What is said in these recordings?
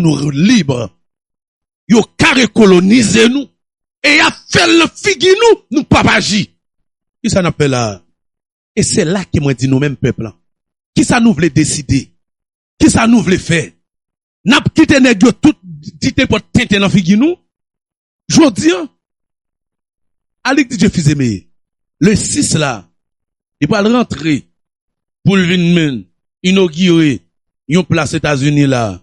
nou libre yo kare kolonize nou e yap fèl nan figi nou nou pap aji kisa nap fè la a e se la ke mwen di nou menm pèp lan kisa nou vle deside kisa nou vle fè nap kite nèg yo tout di nenpòt tenten nan figi nou Jodi an, Alix DJ Fizeme, le 6 la, li pral rantre pou l vin men inogire yon plas Etazini la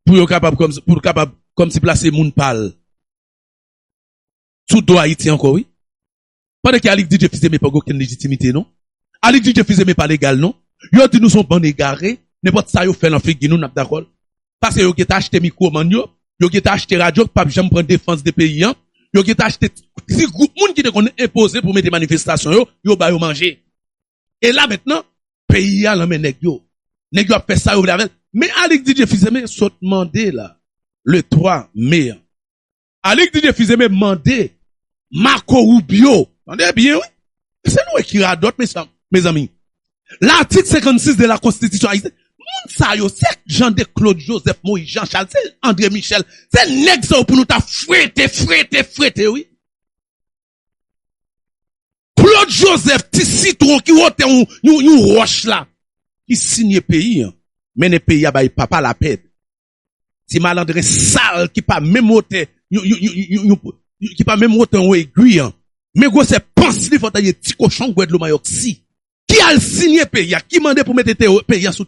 pou yo kapab pou l kapab kòmsi plase moun pa l sou do Ayiti ankò wi. Pandan ke Alix DJ Fils-Aimé pa gen okenn lejitimite non. Alix DJ Fils-Aimé pa legal non. Yo di nou son bann egare, nenpòt sa yo fè lan figi nou nap dakòl. Pase yo gentan achte mikwo man yo, yo gentan achte radyo ki pap janm pran defans de peyi an, yo gentan achte ti gwoup moun ki te konn enpoze pou mete manifestasyon yo, yo ba yo manje. E la mentnan, peyi a lan men nèg yo. Nèg yo ap fè sa yo vle avèl. Men Alix DJ Fils-Aimé sot mande la le 3 me an. Alix Didier Fils-Aimé mande Marco Rubio, tande byen wi, ese nou wè ki radòt mezanmi, L'article 56 de la Constitution Haïtienne, moun sa yo se Jean de Claude Joseph Moïse Jean Charles, se André Michel, se nèg sa yo pou nou ta frete, frete, frete wi. Claude Joseph ti sitwon ki wotè yon wòch la ki siye peyi an, mennen peyi a bay papa lapèd. Ti malandren sal ki pa menm wotè yon egwi an. Men gwosè pans li fò ta ye ti kochon gwèd lomayòk si. Ki al siyen peyi a, ki mande pou mete peyi a sou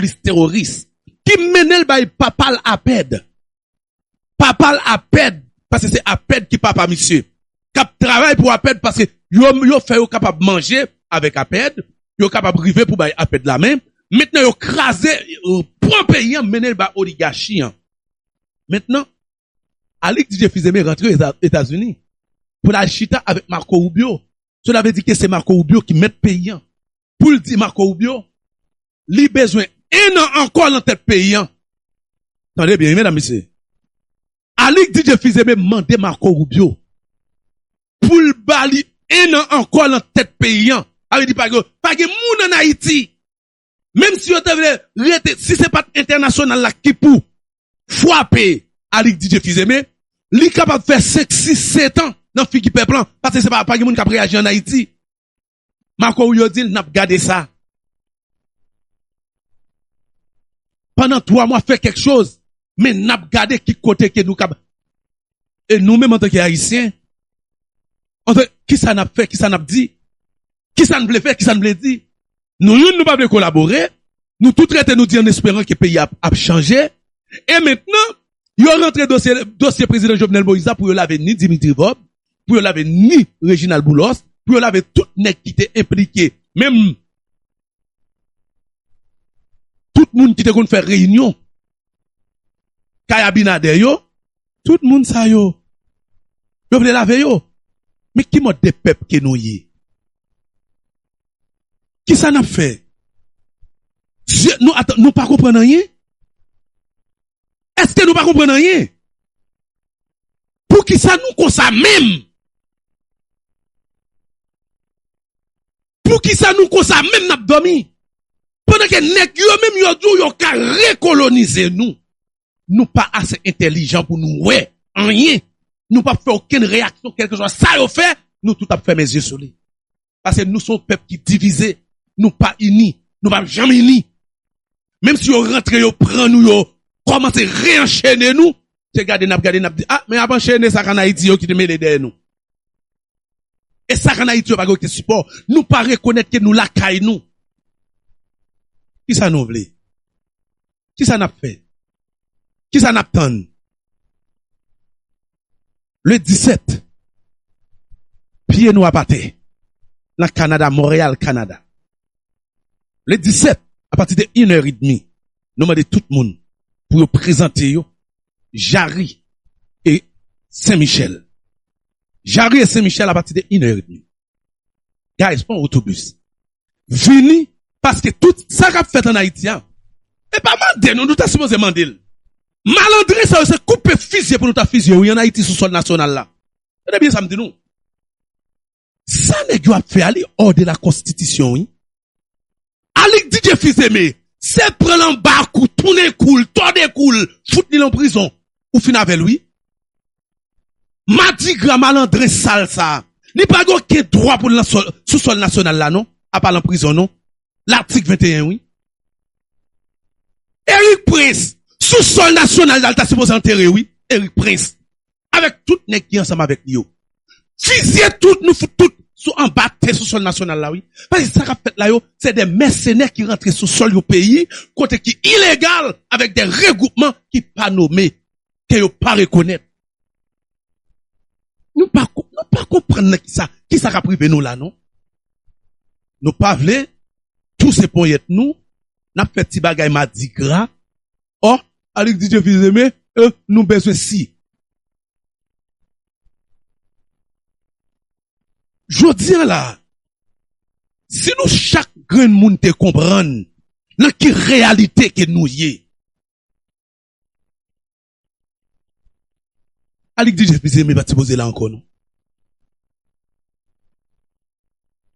lis teworis. Ki mennen l bay papa l Apèd. Papa l Apèd, paske se Apèd ki papa misye. k ap travay pou apèd paske yo fè yo kapab manje avèk apèd, yo kapab rive pou bay apèd la men, mentnan yo kraze, yo pran peyi an mennen l ba oligachi an. Mentnan, Alix Didier Fils-Aimé rantre Etazini pou l al chita avèk Marco Rubio, sela vle di ke se Marco Rubio ki mèt peyi an, pou l di Marco Rubio li bezwen ennan ankò nan tèt peyi an. Tande byen wi medam mesye. Alix DJ Fizeme mande Marco Rubio pou l ba li 1 an ankò lan tèt peyi an. Sa vle di pa gen, pa gen moun an Ayiti, menm si yo te vle rete, si se pat entènasyonal la ki pou fwape Alix DJ Fizeme, li kapab fè 5, 6, 7 an lan figi pèp lan, paske se pa, pa gen moun k ap reyaji an Ayiti. Marco Rubio di l nap gade sa. Pandan 3 mwa fè kèk choz, men nap gade ki kote ke nou kab. E nou menm antanke Ayisyen, antanke, kisa nap fè, kisa nap di, kisa n vle fè, kisa n vle di. Nou youn nou pa vle kolabore, nou tout rete nou di an esperan ke peyi a ap chanje. E mentnan, yo rantre dosye prezidan Jovenel Moïse la pou yo lave ni Dimitri Vorbe, pou yo lave ni Reginald Boulos, pou yo lave tout nèg ki te enplike, menm tout moun ki te konn fè reyinyon kay Abinader yo, tout moun sa yo, yo vle lave yo. Men ki mòd de pèp ke nou ye? Ki sa nap fè? Zye nou ata, nou pa konprann anyen? Eske nou pa konprann anyen? Poukisa nou konsa menm? Poukisa nou konsa menm nap domi? Pandan ke nèg yo menm yo di w yo ka rekolonize nou. Nou pa ase entelijan pou nou wè anyen. Nou pap fè okenn reyaksyon kèlkeswa sa yo fè, nou tout ap fèmen zye sou li. Pase nou son pèp ki divize, nou pa ini, nou pap janm ini. Menm si yo rantre yo pran nou yo kòmanse re anchene nou, se gade nap gade nap di ah men yap anchene sak an Ayiti yo ki te mele dèyè nou. E sak an Ayiti yo pa gen oken sipò, nou pa rekonèt ke nou lakay nou. Kisa nou vle? Kisa nap fè? Kisa nap tann? Le 17, pye nou ap atè nan Kanada, Montreal, Canada. Le 17, a pati de 1 è edmi, nou mande tout moun pou yo prezante yo Jarry e Sen Michel. Jarry e Sen Michel a pati de 1 è edmi. Guys, pran otobis. vini paske tout sa kap fèt an Ayiti a e pa mande nou, nou ta sipoze mande l. Malandren sa yo se koupe fizye pou nou ta fizye yo wi an Ayiti sou sòl nasyonal la. Tande byen sa m di nou. Sa nèg yo ap fè a li hors de la konstitisyon wi. Alig Didye Fizeme se pran l anba kou, tounen kou l, tòde kou l, fout li lan prizon ou fin avè l wi. Madigra malandren sal sa a, li pa gen oken dwa pou l nan sòl, sou sòl nasyonal la non, apa lan prizon non. Latik 21 wi. Eric Prince, sou sòl nasyonal la l ta sipoze antere wi, Eric Prince, avèk tout nèg ki ansanm avèk li yo. Fizye tout, nou fout tout sou anba tè sou sòl nasyonal la wi. Paske sa k ap fèt la yo, se de mèsenè ki rantre sou sòl yon peyi, kote ki ilegal, avèk de regwoupman ki pa nome. ke yo pa rekonèt. Nou pa konprann nan kisa, kisa kap rive nou la non. Nou pa vle souse ponyèt nou, nap fè ti bagay madigra, oh, Alix Didier Fils Aimé, euh, nou bezwen si. Jodi an la, si nou chak grenn moun te konprann nan ki reyalite ke nou ye, Alix di Jeff li se men pat sipoze la ankò non.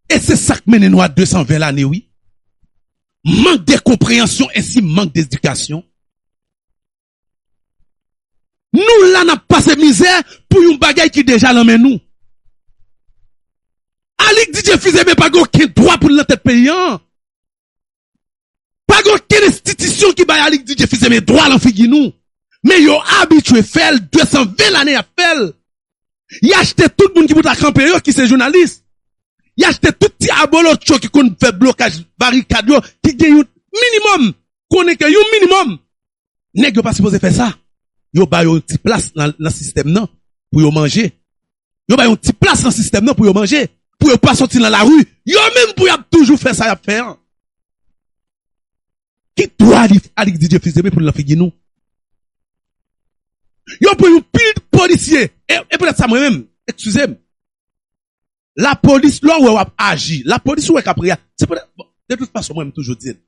E se sak mennen nou a 220 lane wi. Mank de konpreyansyon e si mank dedikasyon. Nou la nap pase mizè pou yon bagay ki deja lan men nou. Alix di Jeff li se men pa gen oken dwa pou l nan tèt peyi an. Pa gen okenn enstitisyon ki bay Alix Didier Fils eme dwa lan figi nou, men yo abitye fèl 220 lane yap fèl. Y achte tout moun ki pou ta kanpe yo ki se jounalis. Y achte tout ti abolotcho ki konn fè blokaj barikad yo ki gen yon minimòm konnen ke yon minimòm Nèg yo pa sipoze fè sa. Yo ba yo yon ti plas nan sistèm nan pou yo manje. Yo ba yo yon ti plas nan sistèm nan pou yo manje. Pou yo pa soti nan lari. Yo menm pou y ap toujou fè sa y ap fè an. Ki dwa Alix Didier Fils-Aimé pou l nan figi nou? Yo pran yon pil polisye. E poutèt sa mwen menm, ekskize m. La polis lè w wè w ap aji, la polis ou wè k ap reya, se pou tèt, bon, de tout fason mwen m toujou di l,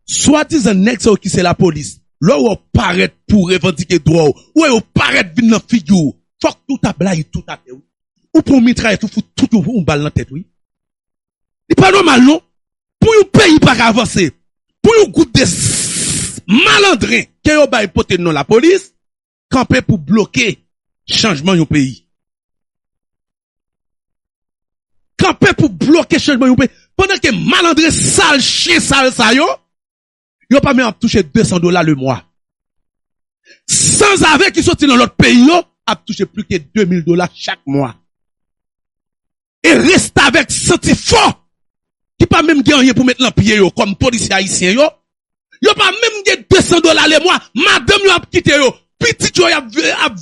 swadizan nèg sa yo ki se la polis, lè w wè yo parèt pou w revandike dwa w, ou wè yo parèt vin nan figi w, fòk tout a blayi tout atè wi. Ou pran yon mitrayèt ou fout tout yon bal nan tèt wi. Li pa nòmal non, pou yon peyi pa ka vanse, pou yon gwoup de malandren ke yo bay pote non la polis, kanpe pou bloke chanjman yon peyi. Kanpe pou bloke chanjman yon peyi. Pandan ke malandren sal, chien sal sa yo, yo pa menm ap touche 200 dola le mwa. Sanzave ki soti lan lòt peyi yo ap touche plis ke 2000 dola chak mwa. E restavèk santi fò ki pa menm gen anyen pou met lan pye yo kòm polisye ayisyen yo, yo pa menm gen 200 dola lemwa, madanm yo ap kite yo, pitit yo yap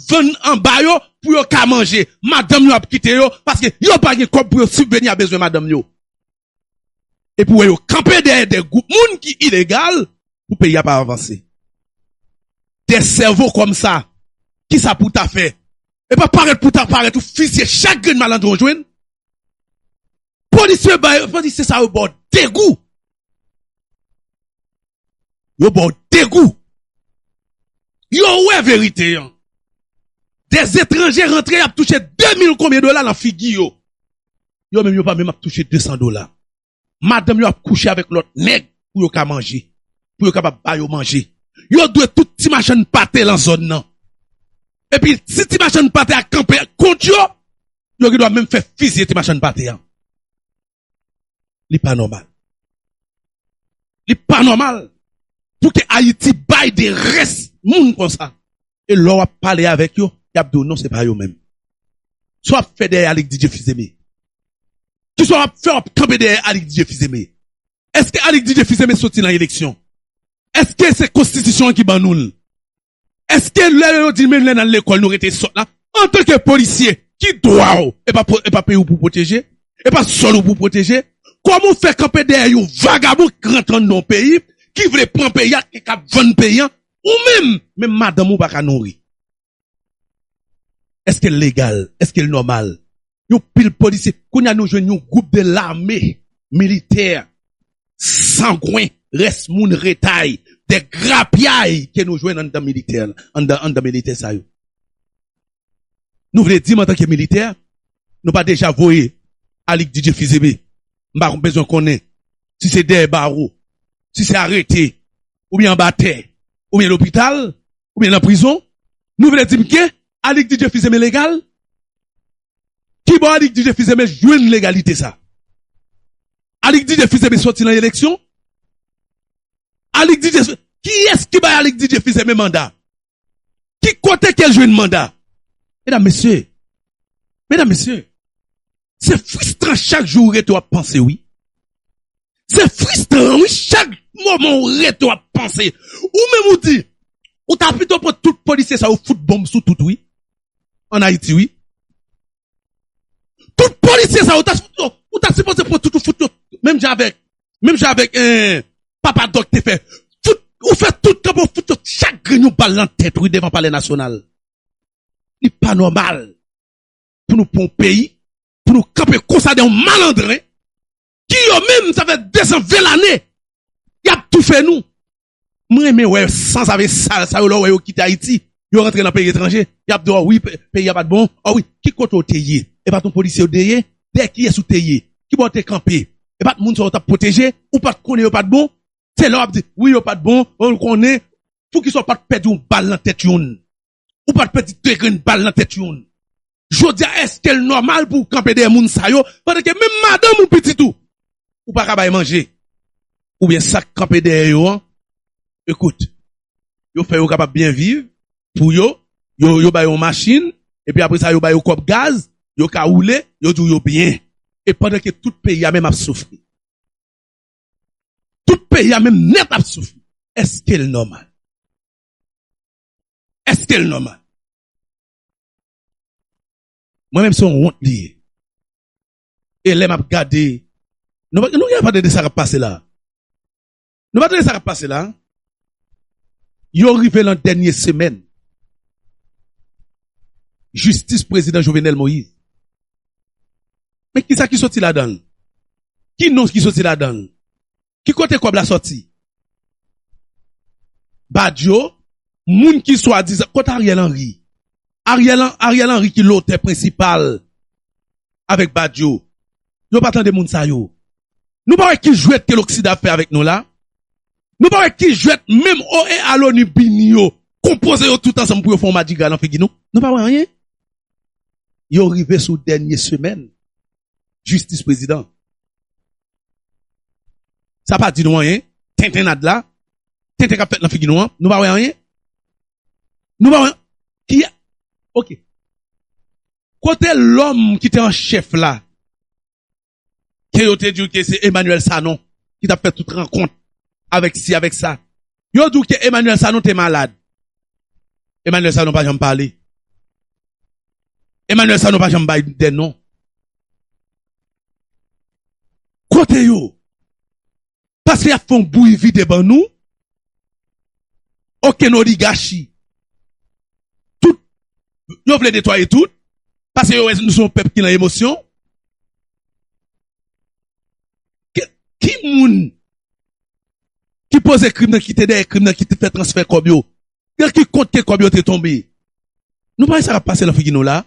vann anba yo pou yo ka manje, madanm yo ap kite yo paske yo pa gen kòb pou yo sibveni a bezwen madanm yo. epi wè yo kanpe dèyè de gwoup moun ki ilegal pou peyi a pa avanse. De sèvo kòm sa, kisa pou ta fè? E pa parèt pou ta parèt ou fizye chak grenn malandren ou jwenn. Polisye sa yo baw degou. yo ba w degou. Yo wè verite an. De etranje rantre y ap touche 2 mil konbyen dola nan figi yo. Yo menm yo pa menm ap touche 200 dola. Madanm yo ap kouche avèk lòt nèg pou yo ka manje, pou yo kapab ba yo manje. Yo dwe tout ti machann pate lan zòn nan. Epi si ti machann pate a kanpe kont yo, yo gen dwa menm fè fizye ti machann pate an. li pa nòmal. Li pa nòmal pou ke Ayiti bay de rès moun konsa. E lè w ap pale avèk yo, y ap di w non se pa yo menm. Sa w ap fè dèyè Alix Didier Fils-Aimé? Ki sa w ap fè w ap kanpe dèyè Alix Didier Fils-Aimé? Eske Alix Didier Fils-Aimé soti nan eleksyon? Eske se konstitisyon an ki ban nou l? Eske lè yo di men lè nal lekòl nou rete sòt la? Antanke polisye ki dwa w epa peyi w pou pwoteje? Epa sòl w pou pwoteje? Kòman w fè kanpe dèyè yon vagabon k rantre anndan yon peyi ki vle pran peyi a e kap vann peyi a ou menm menm madanm ou paka nouri? Eske l legal? Eske l nòmal? yon pil polisye, kounye a nou jwenn yon gwoup de lame militè sangwen, rès moun retay, de grapyay ke nou jwenn anndan militè, anndan militè sa yo. Nou vle di m antanke militè, nou pa deja voye Alix Didier Fils-Aimé, m pa bezwen konnen si se dèyè bawo, si se arete, oubyen anba tè, oubyen lopital, Ou byen nan prizon? Nou vle dim ke Anik DJ Fizeme legal? Ki bò Anik DJ Fizeme jwenn legalite sa? Anik DJ Fizeme soti nan eleksyon? Anik DJ Fizeme, kiyès ki bay Anik DJ Fizeme manda? Ki kote ke jwenn manda? Medam mesye, medam mesye. Se fristran chak jou ou rete wap panse wi. Se fristran wi chak moman ou rete wap panse. Ou menm ou di ou ta pito pran tout polisye sa yo fout bonm sou tout wi. An Ayiti wi. Tout polisye sa yo ou ta sipoze pran tout ou fout yo menm jan avèk menm jan avèk papa Dòk te fè. Fout ou fè tout kanpe ou fout yo chak grenn yon bal nan tèt wi devan palè nasyonal. Li pa nòmal. pou nou pran peyi pou nou kanpe konsa de yon malandren ki yo menm sa fè 200 vel ane yap toufe nou m renmen wè sanzave sal sa yo lè w wè yo kite ayiti yo rantre nan peyi etranje yap di w wi peyi a pat bon wi ki kote w te ye e pat yon polisye w te ye dèyè kiyès ou te ye ki bò w te kanpe e pat moun sa yo tap pwoteje ou pat konnen yo pat bon se lè wap di wi yo pat bon ou konnen poukisa w pat pèdi yon bal nan tèt yon. Ou pat pèdi 2 grenn bal nan tèt youn. Jodia eskel nòmal pouw kanpe dèyè moun sa yo pandan ke menm madanm ou pitit ou ou pa ka bay manje? Oubyen sak kanpe dèyè yo an ekout yo fè yo kapab byen viv pou yo yo bay yon machin epi apre sa yo bay yo kòb gaz yo ka woule yo diw yo byen e pandan ke tout peyi a menm ap soufri. Tout peyi a menm nèt ap soufri eskel nòmal? Eske l nòmal? Mwen menm se yon wont li ye. E lè m ap gade, nou pa nou gen pa tande sa k ap pase la a? Nou pa tande sa k ap pase la a? Yo rive lan dènye semèn jistis prezidan Jovenel Moïse. Men kisa ki soti ladan l? Ki non ki soti ladan l? Ki kote kob la soti? Badio, moun ki swadizan, kot Ariel Henry? Ariel Henry ki lotè prensipal avek Badio. Yo pa tande moun sa yo. Nou pa wè ki jwèt ke loksida ap fè avek nou la? Nou pa wè ki jwèt menm OEA loni bini yo konpoze yo tout ansanm pou yo fè yon madigra nan figi nou? Nou pa wè anyen? Yo rive sou dènye semèn Jistis prezidan. Sa pa di nou anyen, tenten nad la, tenten kap fèt nan figi nou an, nou pa wè anyen? Nou pa wè anyen? Ki a? Ok. Kote lòm ki te an chèf la, ke yo te di ou ke se Emmanuel Sanon, ki tap fè tout rankont, avèk si, avèk sa. Yo di w ke Emmanuel Sanon te malad. Emmanuel Sanon pa janm pale. Emmanuel Sanon pa janm bay de non. Kote yo? Paske y ap fè yon bouyi vide ban nou. Okenn oligachi. Tout. Yo vle netwaye tout. Paske yo wè nou se yon pèp ki nan emosyon. Ki moun? ki poze krim nan, ki te dèyè krim nan, ki te fè transfè kòb yo, nan ki kont ke kòb yo te tonbe? Nou pa wè sa kap pase nan figi nou la?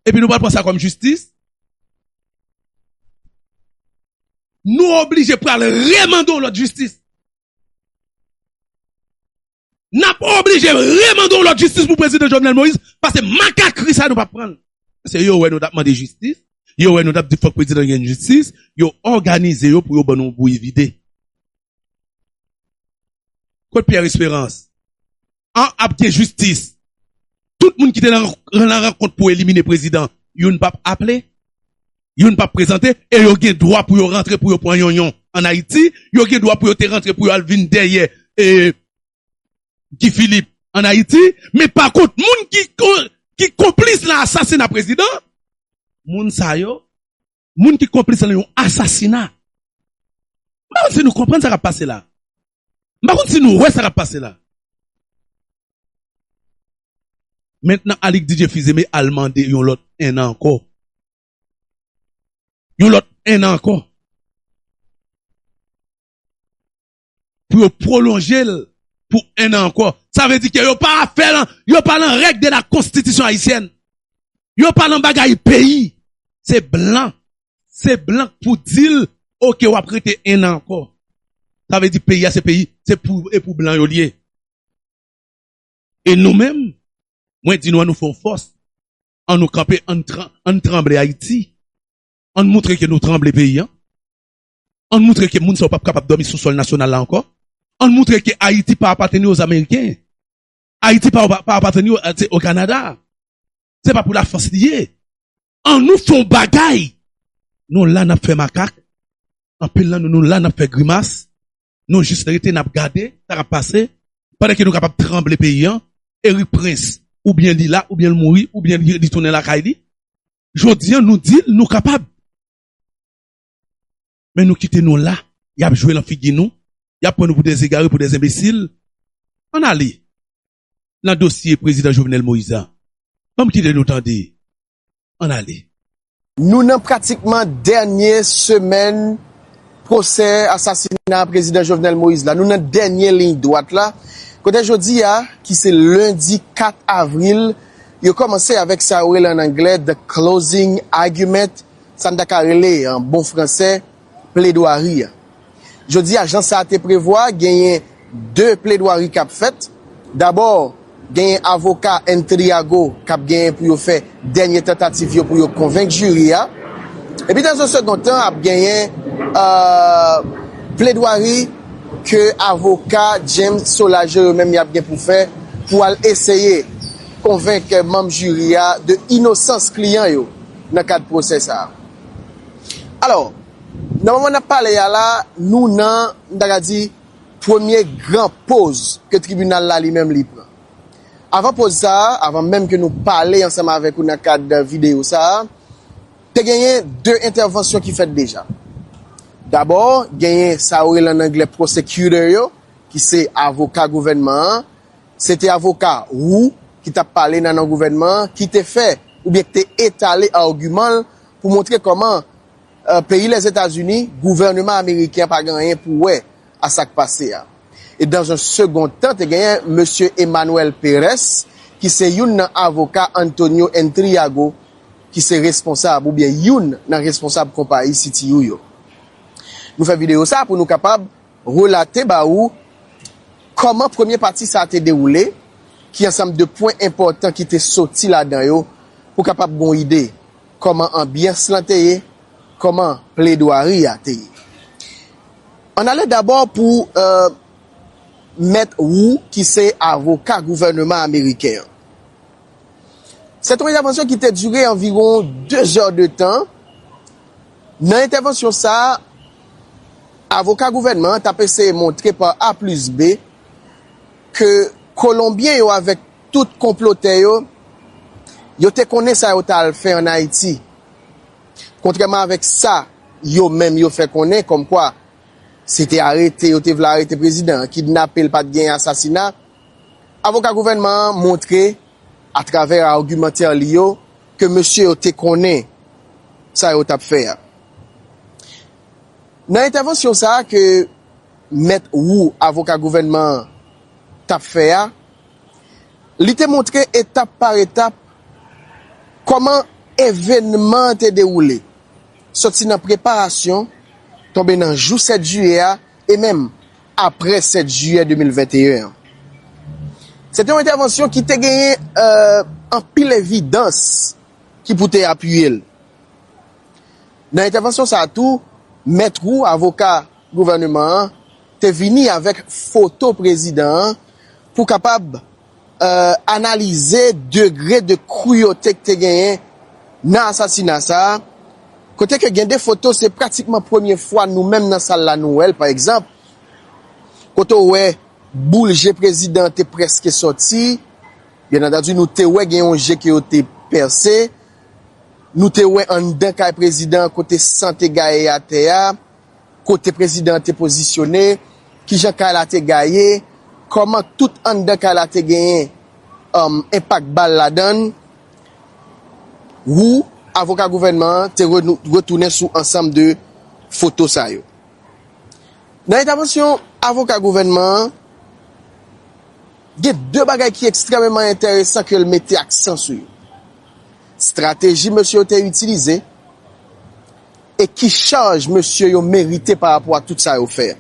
Epi nou pral pran sa kòm jistis? Nou oblije pral remande yon lòt jistis. Nap oblije re mande yon lot jistis pou prezidan Jovenel Moïse pase makakri sa nou pap pranl. Pase yo wè nou tap mande jistis, yo wè nou tap di fok prezidan gen jistis, yo oganize yo pou yo ban nou yon bouyi vide. Kot Pierre Esperance? An ap gen jistis. Tout moun ki te nan rankont pou elimine prezidan, youn pap aple? youn pap prezante e yo gen dwa pou yo rantre pou yo pwan yonyon an Ayiti, yo gen dwa pou yo te rantre pou yo al vin dèyè Guy Philippe an Ayiti, men pa kont moun ki konplis lan asasina prezidan, moun sa yo, moun ki konplis lan yon asasina, m pa konn si nou konprann sa kap pase la, M pa konn si nou wè sa k ap pase la. Mentnan Alick Didier Fils-Aimé al mande yon lòt ennan ankò. Yon lòt ennan ankò. Pou yo pwolonje l pou ennan ankò. Sa vle di ke yo pa fè l, yo pa lan règ de la konstitisyon ayisyèn. Yo pa lan bagay peyi. Se blan Se blan k pou di l ok wap rete 1 an ankò. Sa vle di peyi a se peyi se pou e pou blan yo li ye. E nou menm mwen di nou an nou fè yon fòs an nou kanpe an nou tranble Ayiti an nou moutre ke nou tranble peyi an an nou moutre ke moun sa yo pap kapab dòmi sou sòl nasyonal la ankò an nou moutre ke Ayiti pa apateni oz ameriken Ayiti pa apateni o Kanada. se pa pou la France li ye an nou fon bagay nou la nap fè makak an pil nan nou nou la nap fè grimas nou jis rete nap gade sa kap pase pandan ke nou kapab tranble peyi an Erik prince ou byen li la ou byen li mouri ou byen li tounen lakay li jodi an nou di nou kapab men nou kite nou la yap jwe lan figi nou yap pran nou pou des egare pou des enbesil an ale. nan dosye prezidan Jovenel Moïse an. Banm kite nou tande. Ann ale. Nou nan pratikman dènye semèn pwosè asasina prezidan Jovenel Moïse la. Nou nan dènye liy dwat la. Kote jodi a, ki se lendi 4 avril, yo kòmanse avèk sa yo rele an anglè the closing argument, sa n ta ka rele an bon fransè, pledwari a. Jodi a, jan sa te prevwa, genyen 2 pledwari k ap fèt. Dabò, genyen avoka Entriago k ap genyen pou yo fè dènye tantativ yo pou yo konvenk jiri a. Epi dans un second temps, ap genyen pledwari ke avoka James Solageau yo menm y ap gen pou fè pou al eseye konvenk manm jiri a de inosans kliyan yo nan kad pwosè sa a. Alò, nan moman n ap pale a la, nou nan, m ta ka di, premye gran poz ke tribinal la li menm li pran. Avan poz sa a, avan menm ke nou pale ansanm avèk ou nan kad videyo sa a, te genyen de entèvansyon ki fèt deja. Dabò, genyen sa yo rele an angle prosecutor yo, ki se avoka gouvènman an, se te avoka Roux ki t ap pale nan non gouvènman an, ki te fè oubyen ki te etale agiman l pou montre kòman peyi Lèzetazini, gouvèneman ameriken an pa gen anyen pou wè a sa k pase a. E dans un second temps te genyen mesye Emmanuel Perez ki se youn nan avoka Antonio Intriago ki se responsab oubyen youn nan responsab konpayi CTU yo. Nou fè videyo sa pou nou kapab relate ba ou kòman premye pati sa te dewoule, ki ansanm de pwen enpòtan ki te soti ladan yo pou kapab gon ide. Kòman anbyans lan te ye? Kòman pledwari a te ye? Ann ale dabò pou Mèt Wu ki se avoka gouvèneman ameriken an. Se te yon entèvansyon ki te dire anviwon 2 zè de tan. Nan entèvansyon sa a, avoka gouvènman an t ap eseye montre pa A plis B ke kolonbyen yo avèk Tout konplotè yo, yo te konnen sa yo t al fè ann Ayiti. Kontrèman avèk sa yo menm yo fè konnen kòmkwa se te arete yo te vle arete prezidan an, kidnape l, pa t gen asasina, avoka gouvènman an montre atravè agimantè li yo ke mesye yo te konnen sa yo t ap fè a. Nan entèvansyon sa a ke mèt Wu, avoka gouvènman an, t ap fè a, Li te montre etap par etap kòman evenman an te dewoule, sòti nan preparasyon, tonbe nan jou 7 jiyè a e menm aprè 7 jiyè 2021 an. Se te yon entèvansyon ki te genyen anpil evidans ki pou te apiye l. Nan entèvansyon sa a tou, mèt Roux, avoka gouvèneman an, te vini avèk foto prezidan an pou kapab analize degre de kruyote k te genyen nan asasina sa a, kote ke gen de foto se pratikman premye fwa nou menm nan sal la nou wè l, pa egzanp, kote ou wè boul je prezidan an te prèske sòti, byen antandi nou te wè gen yon je ke yo te pèse, nou te wè anndan kay prezidan an kote san te gaye atè a, Kote prezidan an te pozisyone, kijan kay la te gaye, kòman tout anndan kay la te genyen enpak bal ladan l, Roux, avoka gouvènman an, te retounen sou ansanm de foto sa yo. Nan entavansyon avoka gouvènman an, gen de bagay ki ekstrèmeman enteresan ke l mete aksan sou yo, strateji mesye yo te itilize, e ki chaj mesye yo merite pa rapò ak tout sa yo fè a.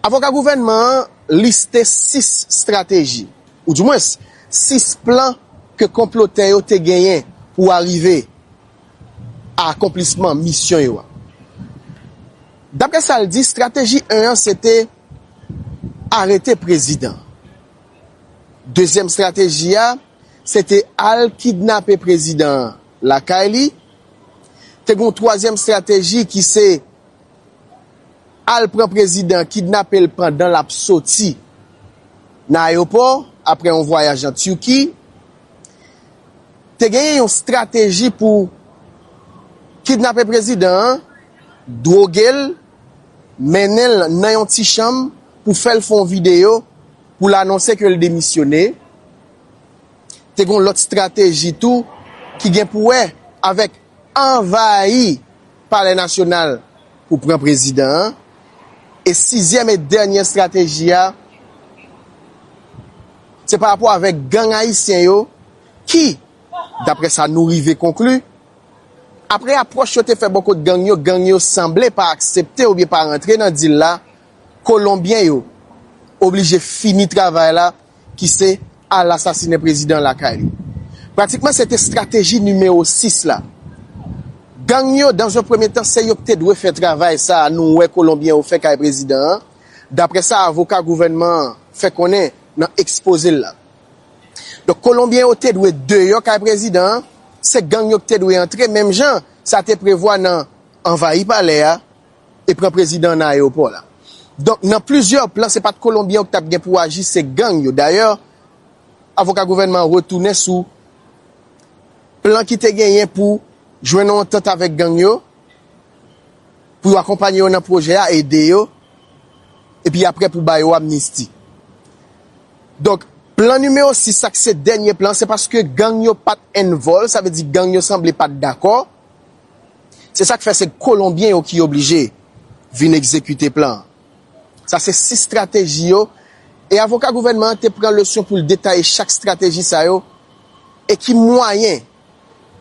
Avoka gouvènman an liste 6 strateji, ou di mwens 6 plan ke konplotè yo te genyen pou arive a akonplisman misyon yo a. Daprè sa l di, strateji 1 an se te arete prezidan. Dezyèm strateji a, Se te al kidnape prezidan an lakay li. Te gen yon twazyèm estrateji ki se al pran prezidan, kidnape l pandan l ap soti nan ayewopò apre yon vwayaj an Tiki. Te genyen yon estrateji pou kidnape prezidan an, dwoge l, mennen l nan yon ti chanm pou fè l fè yon videyo pou l anonse ke l demisyone. Te gen yon lòt strateji tou ki gen pou wè avèk anvayi palè nasyonal pou pran prezidan an. E sizyèm e dènyè strateji a, se pa rapò avèk gang ayisyen yo ki, daprè sa nou rive konkli, aprè apwòch yo te fè bò kot gang yo, gang yo sanble pa aksepte oubyen pa rantre nan dil la, kolonbyen yo oblije fini travay la. ki se al asasinen prezidan lakay li. Pratikman se te strateji nimewo 6 la. Gang yo dan zon premye tan se yo ki te dwe fè travay sa a nou wè kolonbyen yo fè kay prezidan an, daprè sa avoka gouvènman an fè konnen nan ekspoze l la. Donk kolonbyen yo te dwe deyò kay prezidan an, se gang yo ki te dwe antre menm jan sa te prevwa nan anvayi palè a e pran prezidan nan ayewopò la. Donk nan plizyè plan se pat kolonbyen yo ki tap gen pou aji se gang yo. Dayè avoka gouvènman an retounen sou plan ki te genyen pou jwenn yon antant avèk gang yo pou yo akonpanye yo nan pwojè a, ede yo epi aprè pou ba yo amnisti. Donk plan nimewo 6 sa ki se dènye plan se paske gang yo pat envòl sa vle di gang yo sanble pat dakò. Se sa k fè se Kolonbyen yo ki oblije vin egzekite plan an. Sa se sis strateji yo e avoka gouvènman an te pran leson pou l detaye chak strateji sa yo e ki mwayen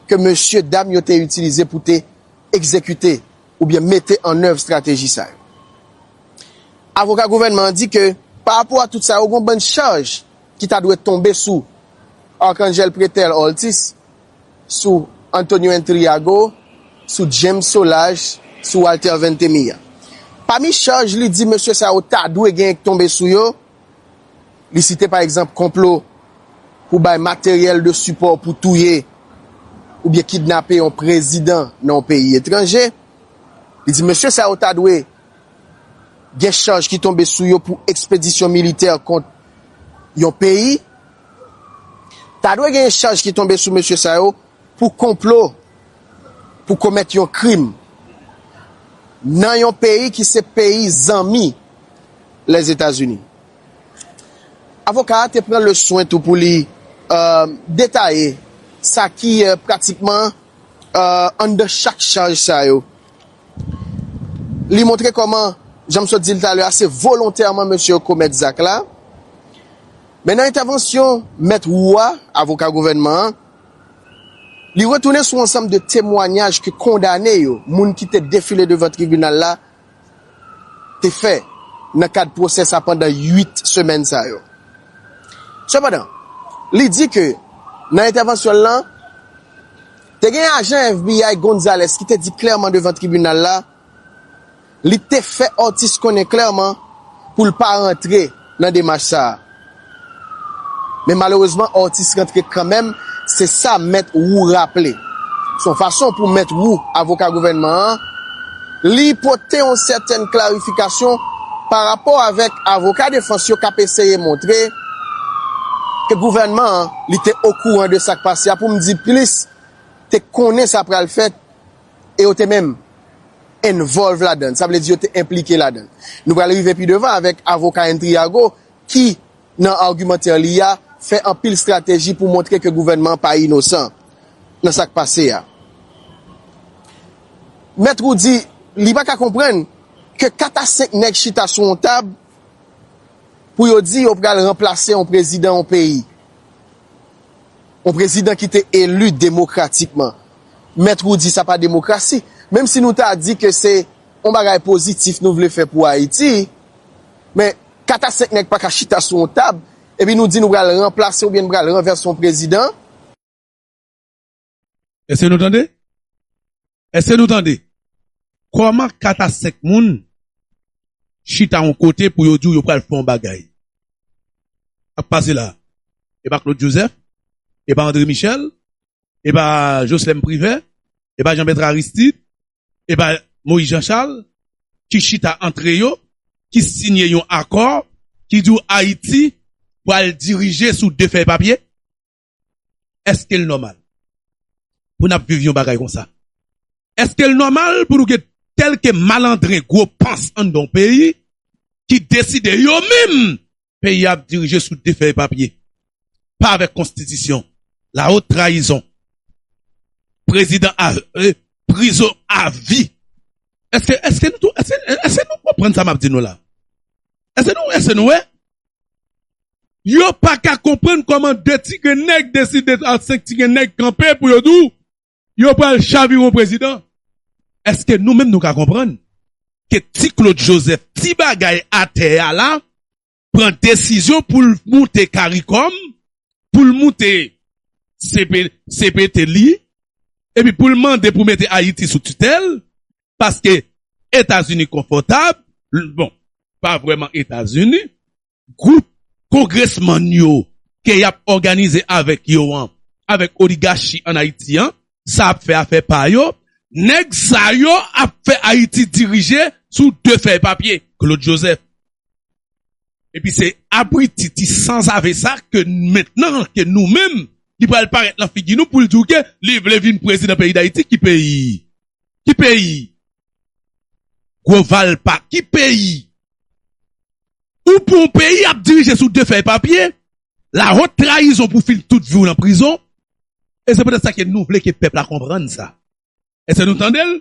ke mesye dam yo te itilize pou te egzekite oubyen mete annèv strateji sa yo. Avoka gouvènman an di ke parapò a tout sa yo gon bann chaj ki ta dwe tonbe sou Arcangel Pretel Orltis sou Antonio Intriago, sou James Solages, sou Walter Veintemilla. Pami chaj li di mesye sa yo ta dwe genyen k tonbe sou yo, li site pa egzanp konplo pou bay materyèl de sipò pou touye oubyen kidnape yon prezidan nan yon peyi etranje. Li di mesye sa yo ta dwe gen chaj ki tonbe sou yo pou ekspedisyon militè kont yon peyi Ta dwe genyen chaj ki tonbe sou mesye sa yo pou konplo pou komèt yon krim nan yon peyi ki se peyi zanmi Lèzetazini. Avoka a te pran le swen tou pou li detaye sa ki pratikman anndan chak chaj sa yo. Li montre kòman, jan m sot di l talè a, se volontèman mesye yo komèt zak la. Men nan entèvansyon Mèt Roux a, avoka gouvènman an, li retounen sou ansanm de temwanyaj ke kondane yo, moun ki te defile devan tribinal la, te fè nan kad pwosè sa pandan 8 semèn sa yo. Sepandan, li di ke nan entèvansyon l lan, te gen ajan FBI Gonzalez ki te di klèman devan tribinal la, Li te fè Ortiz konnen klèman pou l pa rantre nan demach sa a. Men malerezman Ortiz rantre kanmenm, se sa Mèt Wou raple. Se yon fason pou Mèt Wou, avoka gouvènman an, li pote yon sètèn klarifikasyon pa rapò avèk avoka defans yo k ap eseye montre ke gouvènman an li te okouran de sa k pase a, pou m di plis, te konnen sa pral fèt. E yo te menm involve ladan l, sa vle di yo te enplike ladan l. Nou pral rive pi devan avèk avoka Intriago ki, nan argumantè li a, fè anpil strateji pou montre ke gouvènman an pa inosan nan sa k pase a. Mèt Roux di li pa ka konprann ke 4 a 5 nèg chita sou yon tab pou yo di yo pral ranplase yon prezidan yon peyi. Yon prezidan ki te eli demokratikman. Mèt Roudy sa pa demokrasi. Menm si nou ta di ke se yon bagay pozitif nou vle fè pou Ayiti, men 4 a 5 nèg pa ka chita sou yon tab epi nou di nou pral ranplase oubyen nou pral ranvèse yon prezidan. Eske nou tande? Eske nou tande? Kòman 4 a 5 moun chita yon kote pou yo di w yo pral fè yon bagay? Sak pase la? E pa Claude Joseph? E pa André Michel? E pa Jocelerme Privert? E pa Jean Bertrand Aristide? E pa Moïse Jean Charles? Ki chita antre yo, ki siyen yon akò ki di w Ayiti pral dirije sou 2 fèy papye? Eske l nòmal pou n ap viv yon bagay konsa? Eske l nòmal pou nou gen kèlke malandren gwo pans anndan yon peyi ki deside yo menm peyi a ap dirije sou de fèy papye, pa avèk konstitisyon? La haute trahison! Prezidan a ee prizon a vi! Eske eske nou tou eske eske nou konprann sa m ap di nou la? Eske nou eske nou wè? Yo pa ka konprann kòman 2 ti grenn nèg deside ak 5 ti grenn nèg kanpe pou yo di w yo pral chaviron prezidan. Eske nou menm nou ka konprann ke ti Claude Joseph ti bagay atè a la pran desizyon pou l moute caricom, pou l moute cpt li epi pou l mande pou mete Ayiti sou titèl paske Etazini konfòtab, bon pa vrèman Etazini gwoup kongresmann yo ke yap òganize avèk yo an, avèk oligachi an Ayiti an, sa ap fè afè pa yo, nèg sa yo ap fè Ayiti dirije sou de fèy papye, Claude Joseph. Epi se abriti ti sanzave sa ke mentnan ke nou menm li pral parèt lan figi nou poul di w ke li vle vin prezidan peyi Dayiti ki peyi? Ki peyi? Gwo valpa ki peyi? Ou pou yon peyi ap dirije sou 2 fèy papye, la haute trahison pou fin tout vi w nan prizon, e se petèt sa ke nou vle ke pèp la konprann sa. Eske nou tande l?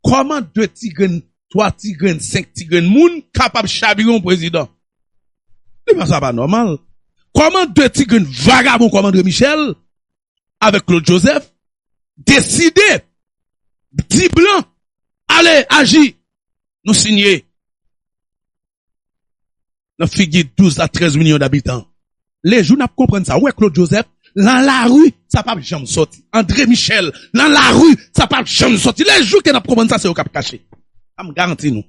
Kòman 2 ti grenn, 3 ti grenn, 5 ti grenn moun kapab chabire yon prezidan? Devan sa pa nòmal. Kòman 2 ti grenn vagabon kòm André Michel avèk Claude Joseph deside di blan ale aji nou signe nan figi 12 a 13 milyon dabitan le jou nap konprann sa wè Claude Joseph lan lari sa pap janm soti Andre Michel lan lari sa pap janm soti le jou ke nap konprann sa se yo kap kache am garanti nou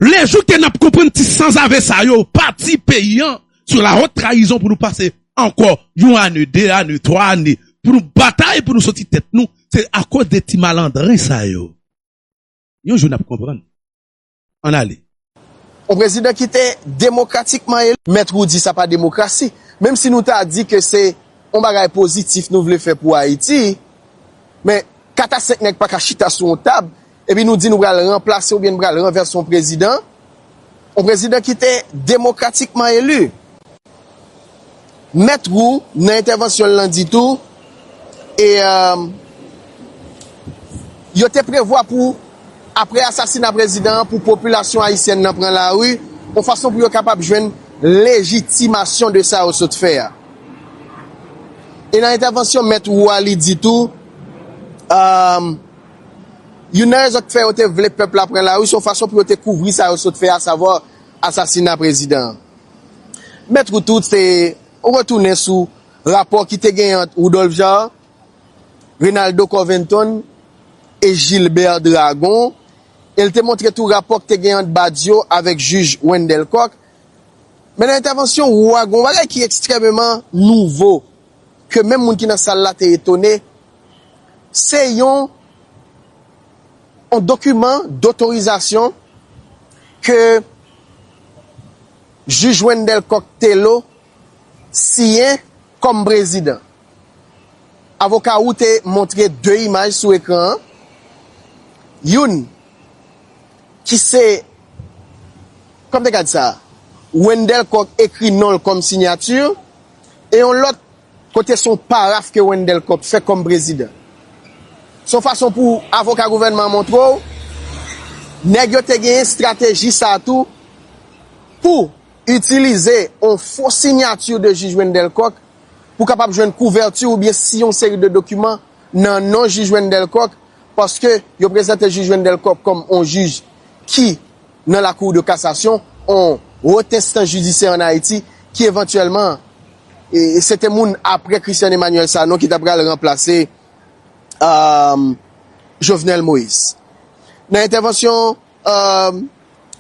Le jou ke nap konprann ti sanzave sa yo pati peyi an sou la haute trahison pou nou pase anko yon ane, 2 ane, 3 ane pou nou batay pou nou soti tet nou se akoz de ti malandren sa yo. Yon jou nap konprann. Ann ale. Yon prezidan ki te demokratikman eli. Mèt Roudy sa pa demokrasi. Menm si nou ta di ke se yon bagay pozitif nou vle fè pou Ayiti, men 4 a 5 nèg pa ka chita sou yon tab epi nou di nou pral ranplase oubyen nou pral ranvèse yon prezidan, yon prezidan ki te demokratikman eli. Mèt Roux, nan entèvansyon l lan di tou, e yo te prevwa pou aprè asasina prezidan an pou popilasyon ayisyèn nan pran lari yon fason pou yo kapab jwenn lejitimasyon de sa yo sot fè a. E nan entèvansyon Mèt Roux a li di tou, youn nan rezon ki fè yo te vle pèp la pran lari se yon fason pou yo te kouvri sa yo sot fè a savwa asasina prezidan an. Mèt ou tout se retounen sou rapò ki te genyen ant Rudolph Jaar, Reynaldo Corventon e Gilbert Dragon e l te montre tou rapò ki te genyen ant Badio avèk jij Wendelle Coq. Men nan entèvansyon Roux a gen yon bagay ki ekstrèmeman nouvo ke menm moun ki nan sal la te etone, se yon. On dokiman dotorizasyon ke Jij Wendelle Coq Thélot siyen kòm prezidan. Avoka Roux te montre 2 imaj sou ekran an, youn ki se, kòm te ka di sa, Wendelle Coq ekri non l kòm sinyati e yon lòt, Kote son paraf ke Wendel Coq fè kòm prezidan. Son fason pou avoka gouvènman an montre w nèg yo te genyen strateji sa tou pou itilize on fo sinyati de jij Wendel Coq pou kapab jwenn kouvèti oubyen si yon seri de dokiman nan non jij Wendel Coq paske yo prezante jij Wendel Coq kòm on jij ki nan la Cour de Cassation, on Haute Instance Judiciaire en Haïti, ki evantyèlman, se te moun apre Christian Emmanuel Sanon ki ta pral ranplase Jovenel Moïse. Nan entèvansyon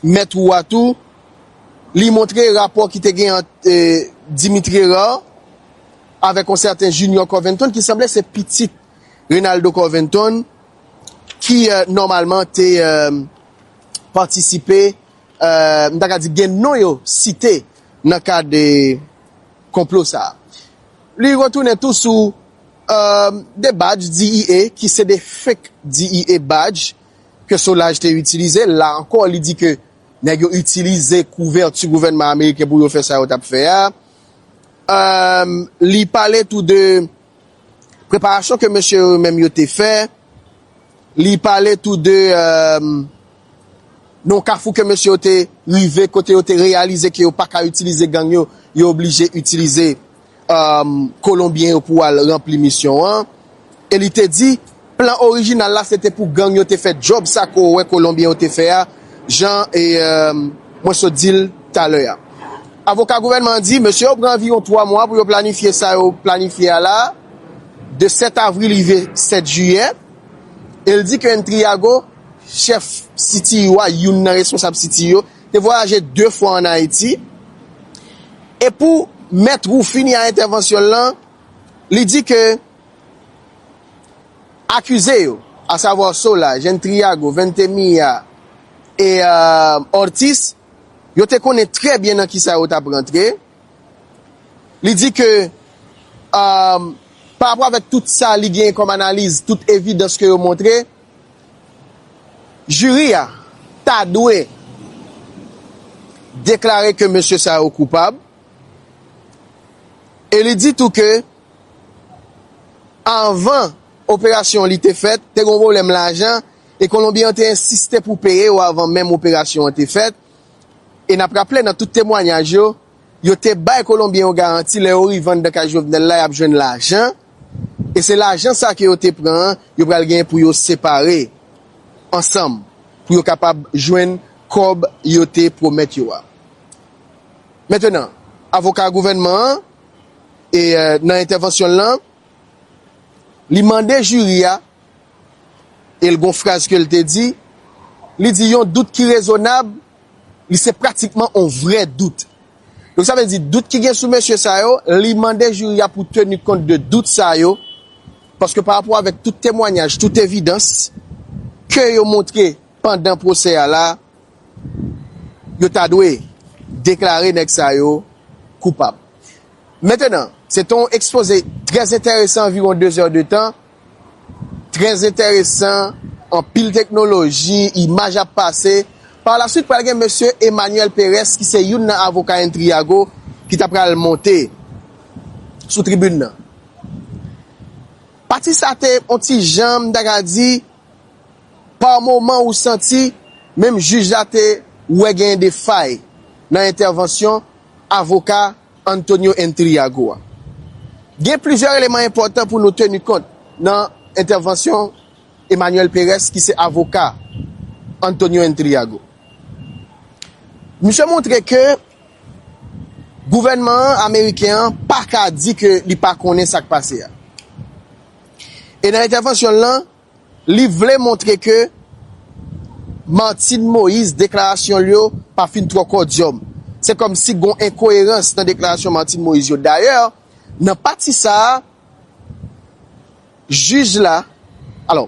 Mèt Roux a tou, li montre rapò ki te gen ant Dimitri Herard avèk on sèten Junior Corventon ki sanble se pitit Renaldo Corventon ki nòmalman te patisipe, m ta ka di gen non yo site nan kad konplo sa. Li retounen tou sou 2 badj DIA ki se 2 fake DIA badj ke Solaj te itilize. La ankò li di ke nèg yo itilize kouvèti gouvènman ameriken pou yo fè sa yo t ap fè a. Li pale tou de. Preparasyon ke mesye yo menm yo te fè, li pale tou de yon kafou ke mesye yo te rive kote yo te reyalize ke yo pa ka itilize gang yo, yo oblije itilize kolonbyen yo pou al ranpli misyon an. E li te di Plan orijinal la se te pou gang yo te fè djòb sa ke w wè kolonbyen yo te fè a, jan mwen sot di l talè a. Avoka gouvènman an di, mesye yo pran anviwon 3 mwa pou yo planifye sa yo planifye a la, de 7 avril rive 7 jiyè, e l di ke Intriago, chèf CTU a, youn nan responsab CTU yo, te vwayaje 2 fwa an Ayiti. E pou Mèt Roux fini a entèvansyon l lan, li di ke. Akize yo, asavwa Sola, Jèn Triago, Veintemilla e Ortiz, yo te konnen trè byen nan kisa yo t ap rantre. Li di ke parapò avèk tout sa li genyen kòm analiz, tout evidans ke yo montre, jiri a ta dwe deklare ke mesye sa yo koupab e li di tou ke Anvan operasyon an li te fèt, te gen yon pwoblèm lajan e Kolonbyen an te ensiste pou peye yo avan menm operasyon an te fèt. E n ap raple nan tout temwanyaj yo, yo te bay Kolonbyen yo garanti lè yo rive anndan kay Jovenel la y ap jwenn lajan e se lajan sa ke yo te pran an yo pral genyen pou yo separe ansanm pou yo kapab jwenn kòb yo te pwomèt yo a. Mentenan, avoka gouvènman an. E nan entèvansyon l lan, li mande jiri a, e l gon fraz ke l te di, li di yon dout ki rezonab, li se pratikman on vrè dout. Donk sa vle di dout ki gen sou mesye sa yo, li mande jiri a pou teni kont de dout sa yo, paske pa rapò avèk tout temwanyaj, tout evidans ke yo montre pandan pwosè a la, yo ta dwe deklare nèg sa yo koupab. Mentenan, se te yon ekspoze trè enteresan anviwon 2 zè de tan, trè enteresan, anpil teknoloji, imaj ap pase. Pa la swit pral gen mesye Emmanuel Perez ki se youn nan avoka Intriago ki ta pral monte sou tribin nan. Pati sa te yon ti jan, m ta ka di, pa moman ou santi menm jij la te wè gen de fay nan entèvansyon Avoka Antonio Intriago a. Gen plizyè eleman enpòtan pou nou teni kont nan entèvansyon Emmanuel Perez ki se avoka Antonio Intriago. Misye montre ke gouvènman an, ameriken an, pa ka di ke li pa konnen sa k pase a. E nan entèvansyon l lan, Li vle montre ke Martine Moïse deklarasyon l yo pa fin twò kòdyòm. Se kòm si gon enkoyerans nan deklarasyon Martine Moïse yo. Dayè, nan pati sa a, jij la, alò,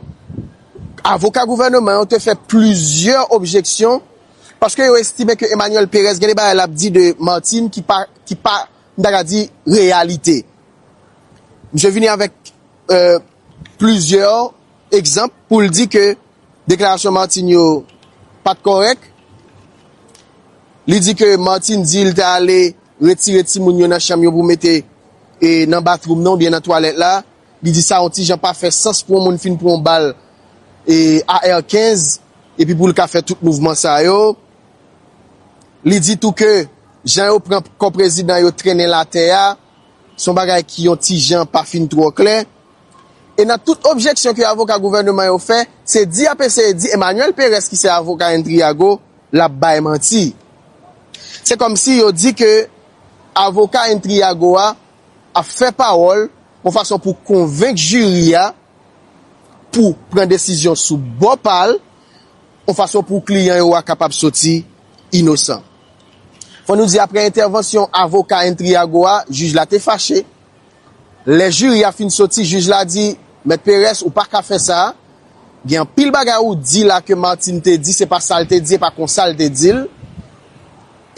avoka gouvèneman yo te fè plizyè objeksyon paske yo estime ke Emmanuel Perez gen de bagay l ap di de Martine ki pa, ki pa, m ta ka di, reyalite. Misye vini avèk. plizyè egzanp pou l di ke deklarasyon Martine yo pa t kòrèk. Li di ke Martine di l te ale retire timoun yo nan chanm yo pou mete nan bathroom nan oubyen nan twalèt la. Li di sa yon ti jan pa fè sans pou yon moun fin pran yon bal AR 15 epi pou l ka fè tout mouvman sa yo. Li di tou ke jan yo pran kò prezidan yo trennen l atè a. Se yon bagay ki yon ti jan pa fin twò klè. E nan tout objeksyon ke avoka gouvèneman yo fè, se di y ap eseye di Emmanuel Perez ki se avoka Intriago, l ap bay manti. Se kòm si yo di ke avoka Intriago a ap fè pawòl yon fason pou konvenk jiri a pou pran desizyon sou bò pa l, yon fason pou kliyan yo a kapab soti inosan. Fò nou di aprè entèvansyon avoka Entriago a, jij la te fache. Lè jiri a fin soti, jij la di, Mèt Perez, ou pa ka fè sa. Gen anpil bagay ou di la ke Martin te di, se pa sa l te di, e pa konsa l te di l.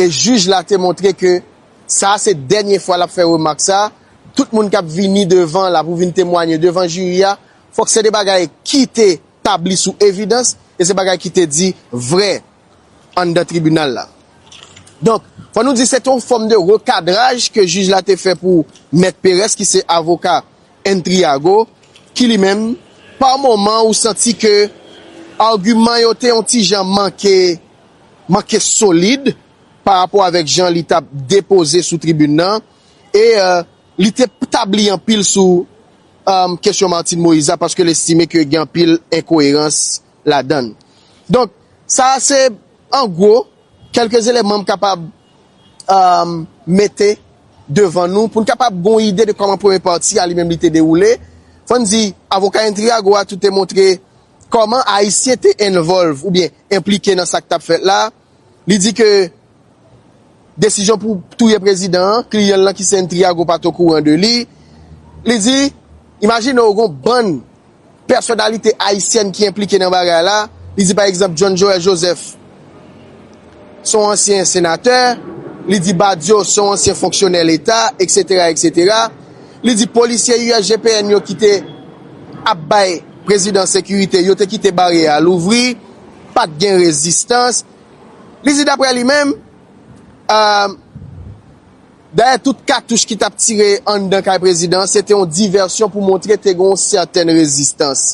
E jij la te montre ke sa a se dènye fwa l ap fè remak sa a. Tout moun k ap vini devan la pou vin temwanye devan jiri a, fòk se de bagay ki te tabli sou evidans e se bagay ki te di vrè. anndan tribinal la. Donk, fò nou di se te yon fòm de rekadraj ke jij la te fè pou Mèt Perès ki se avoka Entriago, ki li menm, pa moman ou santi ke agiman yo te yon ti jan manke, manke solid pa rapò avèk jan li tap depoze sou tribin nan e li te tabli anpil sou kesyon Martine Moïse la paske l estime ke gen anpil enkoyerans. ladann. Donk, sa a se an gwo kèlke zelenman m kapab mete devan nou pou n kapab gen yon ide de kòman premye pati a li menm li te dewoule. Fò n di, avoka Intriago a tou te montre kòman Ayisyen te envolve oubyen enplike nan sa k t ap fèt la a. Li di ke desizyon pou touye prezidan an, kliyan l lan ki se N. Triago pa t okouran de li. Li di, imajine w gon bann pèsonalite ayisyèn ki enplike nan bagay la. Li di pa egzanp John Joël Joseph se yon ansyen senatè. Li di Badio se yon ansyen fonksyonè leta, eksetera, eksetera. Li di polisye USGPN yo ki te ap bay prezidan sekirite, yo te kite baryè a louvri. Pa t gen rezistans, li di daprè li menm. Dayè tout katouch ki t ap tire anndan kay prezidan an se te yon divèsyon pou montre te gen yon sètèn rezistans.